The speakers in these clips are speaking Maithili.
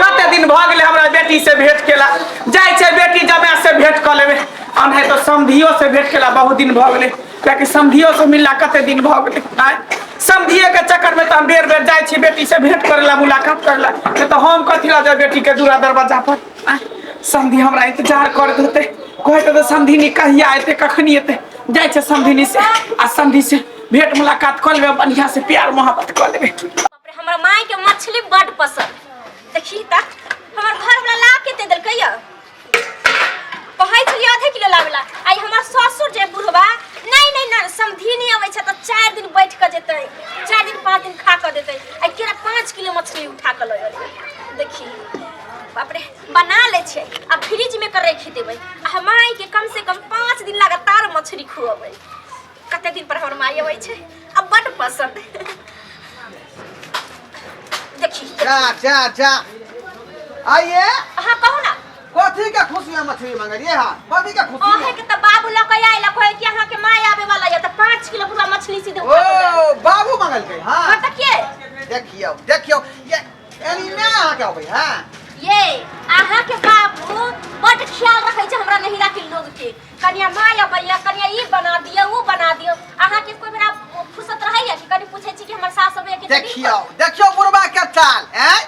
कते दिन भऽ गेलै हमरा बेटी से भेंट केला जाइ छै बेटी जमाय से भेंट कऽ लेबै आ नहि तऽ समधियो से भेंट केला बहुत दिन भऽ गेलै कियाकि समधियो से मिलला कते दिन भऽ गेलै आय समधिये के चक्कर में तऽ हम बेर बेर जाइ छी बेटी से भेंट करे ला मुलाकात करे ला नहि तऽ हम कथी ला जाय बेटी के दूरा दरवाजा पर आय समधी हमरा इंतजार करत होते कहत होते समधिनी कहिया एते कखनी एते जाइ छै समधिनी से आ समधी से भेंट मुलाकात कऽ लेबै बढ़िया से प्यार मोहब्बत कऽ लेबै बाप रे, हमरा माय के मछली बड पसंद देखी त हमर घर वाला ला के दे देलकै या कहै छलियै आधे किलो लावेला आई हमर ससुर जे बुढ़वा नहीं नहीं ना समधी नहीं अबै छै त चार दिन बैठ के जेतै चार दिन पाँच दिन खा के देतै आई केरा पाँच किलो मछली उठा के लऽ अयलै देखी बाप रे बना ले छै आ फ्रिज में के रख देबै आ माय के कम से कम पाँच दिन लगातार मछली खुअबै कते दिन पर हमर माय अबै छै आ बड पसंद देखी जा जा जा आइए अहाँ कहू ना कथी के खुशी में मछली मंगलिए हा कथी के खुशी अहे में के त बाबू लऽ के आइला कहै कि अहाँ के माय आबे वाला ये त 5 किलो पूरा मछली सीधे उठा के दे। ओ बाबू मंगल के हां हाँ त के देखियो देखियो ये एनी में आ के अबै हां ये अहाँ के बाबू बड ख्याल रखै छै हमरा नहिरा के लोग के कनिया माय अबैया कनिया ई बना दियो ऊ बना दियो अहाँ के कोई बेरा फुर्सत रहैया कि कनी पूछे छी कि हमर सास अबैया कि नहीं? देखियो देखियो बुढ़बा के चाल हैं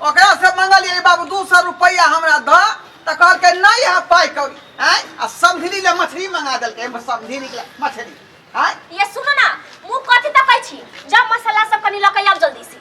ओकरा से मंगल ये बाबू दू सौ रुपया हमरा द त कहलकै नहीं है पाई कौड़ी हैं आ समधिनी ले मछली मंगा देलकै एमे समधिनी के ले मछली हैं ये सुनो ना मुंह कथी तकै छी जब मसाला सब कनी लकै आब जल्दी से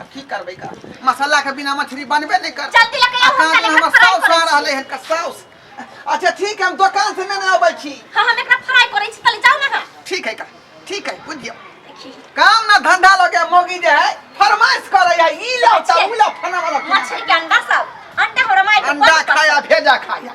आ की करबै का मसाला के बिना मछली बनबे नहीं कर जल्दी लकड़ी आ साँझ में हमर साउस आ रहले हन का साउस अच्छा ठीक है हम दुकान से लेने आबै छी हां हम एकरा फ्राई करै छी तले जाओ ना हां ठीक है का ठीक है बुझियो देखी काम ना धंधा लगे मोगी जे है फरमाइश करे है ई लाओ ता ऊ लाओ फना वाला मछली के अंडा सब अंडा हमरा माय के अंडा खाया भेजा खाया